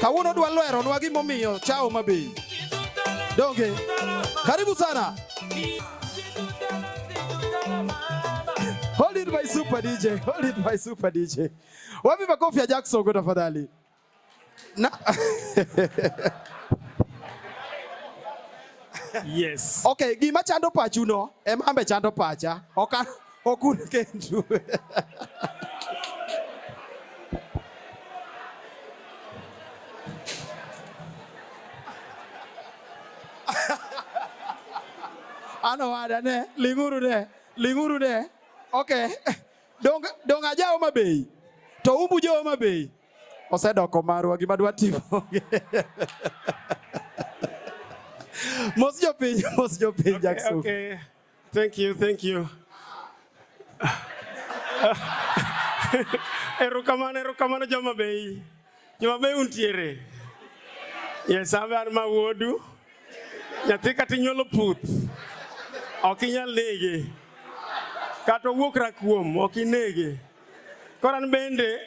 Kawuono dwa lwero nwa gimomiyo chao mabeyi. Donge? Karibu sana. Hold it my super DJ. Hold it my super DJ. Wapi makofi ya Jackson kwa tafadhali? Na Yes. Okay, gima chando pachu no, emambe chando pacha. Oka Okun Kenju. ano wada ne ling'uru ne ling'uru ne okay dong dong aja Homa Bay to umbu jo Homa Bay osedoko marwa gima dwa timo mos jopiny mos jopiny Jackson okay, okay. Thank you, thank you. Erokamano, erokamano joma bei. Joma bei untiere. Yes, abe an ma wuodu. Nyathi kata inyuolo puth. Ok inyal nege. Kata owuok rakuom, ok inege. Koro an bende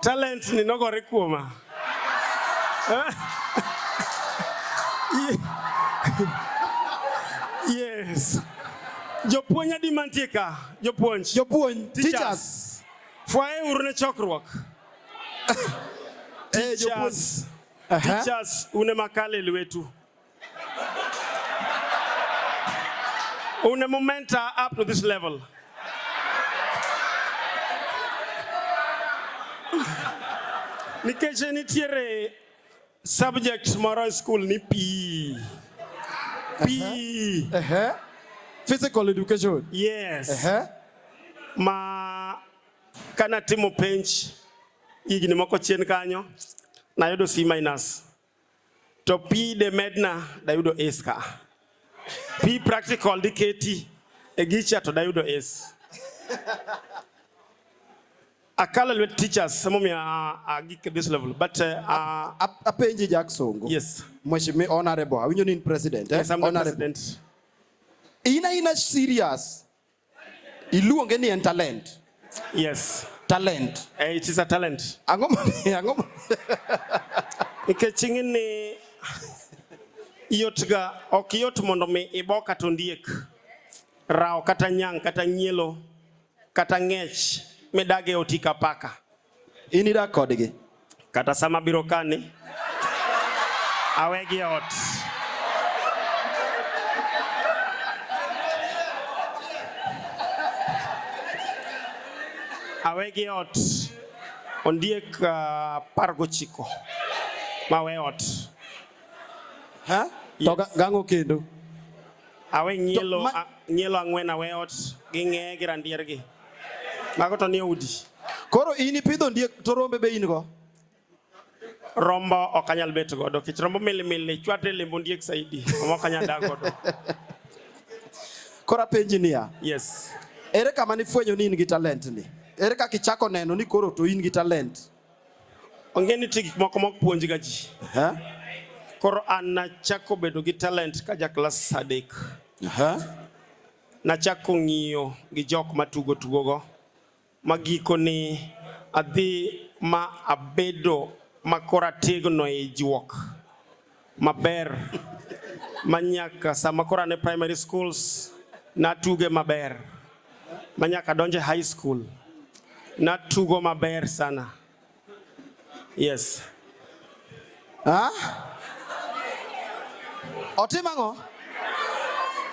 Talent ni nogore kuoma. Yes. Jopuonj adi mantie ka? Jopuonj. Jopuonj, teachers. Fwaye uru ne chokruok. Eh, jopuonj. Teachers, une makale lwetu. Un momento up to this level. Nikech nitiere subject moro e school ni pi. Pi. Uh -huh. Physical education. Yes. Uh -huh. Ma kana timo penj higni moko chien kanyo nayudo C minus. to pi de medna dayudo ace ka pi practical diketi e gicha to dayudo ace akala lwet teachers emomiyo agik at this level but uh, uh, apenji Jack Songo yes mheshimiwa honorable awinjo ni in president eh? yes, I'm honorable. the president in a serious Iluonge ni en talent. Yes. Talent. Eh, it is a talent. Ang'o ma ang'o ma Nikech ing'eni yotga ok yot mondo mi ibo kata ondiek, rawo kata nyang' kata nyielo kata ng'ech midage oti ka paka. In idak kodgi. Kata sama biro kani, awegi e ot. Awegi e ot. Ondiek uh, par gochiko. Mawe ot. Ha? Yes. To gango kendo. Awe nyielo, ma... nyielo ang'wen awe ot gi ng'eye gi randier gi. Mago to ni udi. Koro in ipidho ndiek to rombe be in go? Rombo ok anyal bet godo kech rombo milimili chwate lembo ndiek saidi omo ok anyal dak godo. Koro apenji niya. Yes. Ere kama nifwenyo ni in gi talent ni? Ere kaka ichako neno ni koro to in gi talent? Onge ni nitie gik moko mok puonjga ji. Aha. Koro an nachako bedo gi talent ka ja klas adek. Aha. Nachako ng'iyo gi jok matugo tugogo ma gikoni adhi ma abedo ma koro ategno e juok. maber ma nyaka sama koro an e primary schools natuge maber ma nyaka donje high school natugo maber sana yes ha? otim ang'o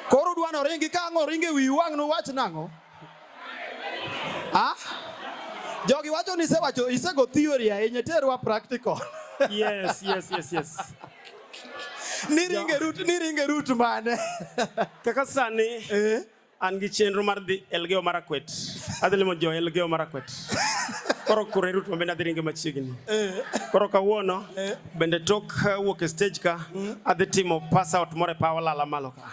koro udwano ringi ka ang'o ringi wi wang' nuwach nang'o Ah? Jogi wacho ni isewacho isego theory ahinya terwa practical. Yes, yes, yes, yes. Niringe root, niringe root mane? Kaka sani eh? an gi chenro mar dhi Elgeyo Marakwet. Adhi limo jo Elgeyo Marakwet. Koro kure root mabende adhi ringe machiegni. Eh? Koro kawuono eh? bende tok uh, wuok e stage ka hmm? adhi timo pass out more pa walala malo ka.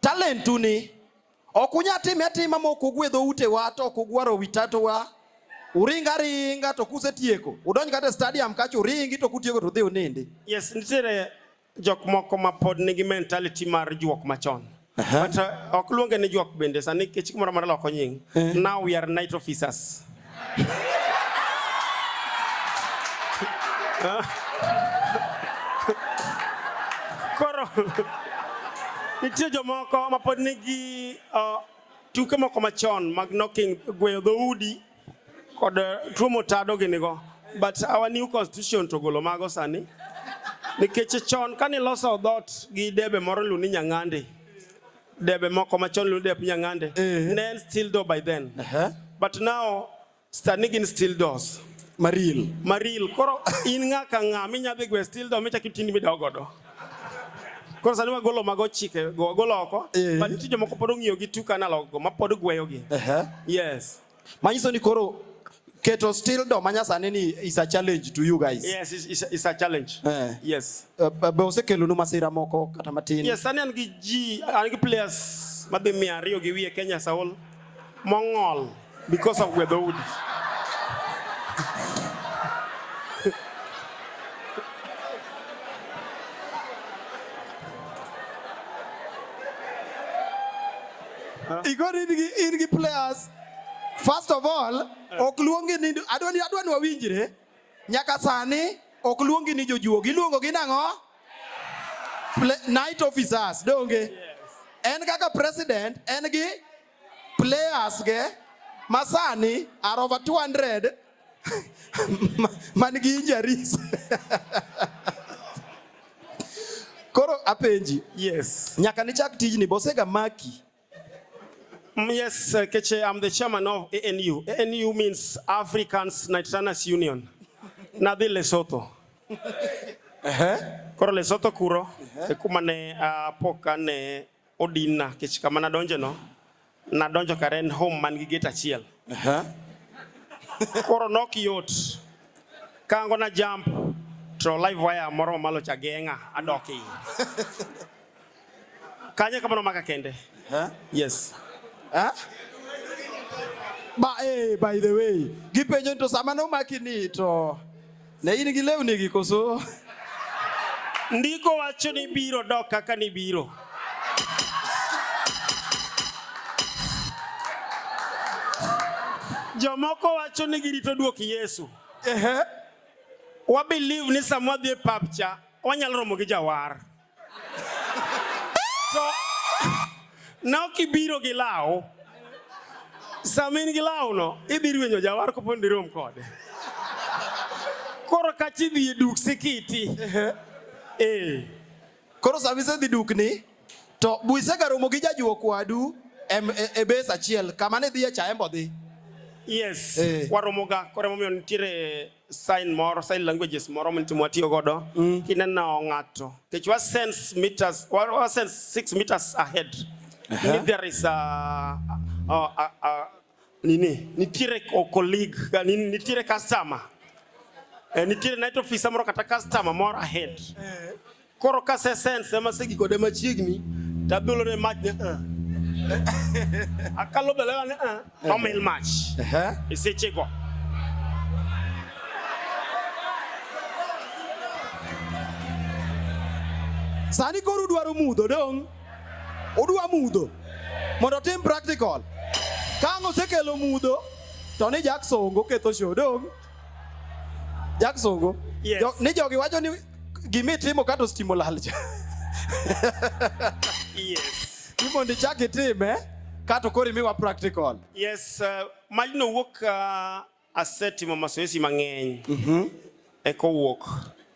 Talentu ni ok unya time atima ma ok ugwe dhoutewa to ok ugwaro wi tatowa uringa ringa to kusetieko udonj kata e stadium kacha uringi to kutieko to udhi unindi yes nitiere jok moko ma pod nigi mentality mar juok machon uh-huh. but uh, ok luonge ni juok bende sani kech kumoro amora loko nying eh. now we are night officers Koro nitie jomoko ma pod nigi uh, tuke moko machon mag knocking gweyo dhoudi kod uh, tuo motado ginigo but our new constitution to golo mago sani nikech chon kane iloso dhoot gi debe moro luni nyang'andi debe moko machon iluongo dep nyang'ande Eh. ne en steel door by then Ehe. but now sani gin steel doors Maril. maril koro in ng'a ka ng'a minya dhi gwe steel door michak itindi midawo godo koro sani wagolo mago chike go wagolo oko Eh. but nitie jomoko pod ong'iyo gi tuk analog go mapod gweyogi Ehe. yes Manyiso ni koro keto still do manyasani ni is a challenge to you guys. Yes, it's, it's, it's a challenge. Eh. Yes. Uh, be osekelo nu masira moko kata matin. Yes, sani an gi ji, an gi players madhi mia ariyo gi wiye Kenya Saul mong'ol because of weather wood. Igor in gi in gi players. First of all, eh. ok luongi ni adwani adwani wawinjre. Nyaka sani ok luongi ni jojuogi, iluongo gi nang'o? Night officers, donge? En kaka president, en gi players ge masani are over 200 man gi injuries koro apenji yes nyaka nichak tijni bosega maki mm, Yes, uh, Keche, I'm the chairman of ANU. ANU means Africans Nitranas Union. Nadhi Lesotho. Koro Lesotho kuro, e kuma ne apok ane Odinna kech kama nadonje no, nadonjo kare en home man gi gate achiel. Aha. Koro nok yot. Kango na jump to live wire moro mamalo cha geng'a adok iye. Kanye kamano maka kende. Aha. Yes. Ha? Ba, eh, by the way, gipenjo ni to sama nomaki ni to Ne in gi lewni gi koso? Ndiko wacho ni biro dok kaka ni biro. Jomoko wacho ni girito duok Yesu. Ehe. Wa believe ni samwa dhi e pap cha wanyalo romo gi jawar. to nok ibiro gi law sama in gi lawno idhi rwenyo jawar kopo ni dirom kode koro kachi idhi e duk sikiti ee koro sama isedhi dukni to buisegaromo gi jajuok wadu e bes achiel kama ne dhiye cha embo dhi yes eh. waromoga koro emomiyo nitiere sign moro sign languages moro mtimo watiyo godo mm. kineno ng'ato kech wa sense meters wa sense six meters ahead uh -huh. If there is a, a, a, a nini nitiere colleague nini nitiere customer eh, nitiere night officer moro kata customer moro ahead eh. Koro ka sesens ema segikode machiegni to abilo ne mach ne ah. akalo belega ne ah, to mil mach e sechego sani koro udwaro mudho dong' udwa mudho mondo otim practical ka ang' osekelo mudho to ni jaksongo ketho shodong' Jaksungu. Yes. Jo, ni jogi wacho ni gima itimo kato stimo lal cha. yes. Imondi chak itime kato koro imiwa practical. Yes, uh, majno wuok uh, asetimo masoesi mang'eny. Mhm. Mm Eko wuok.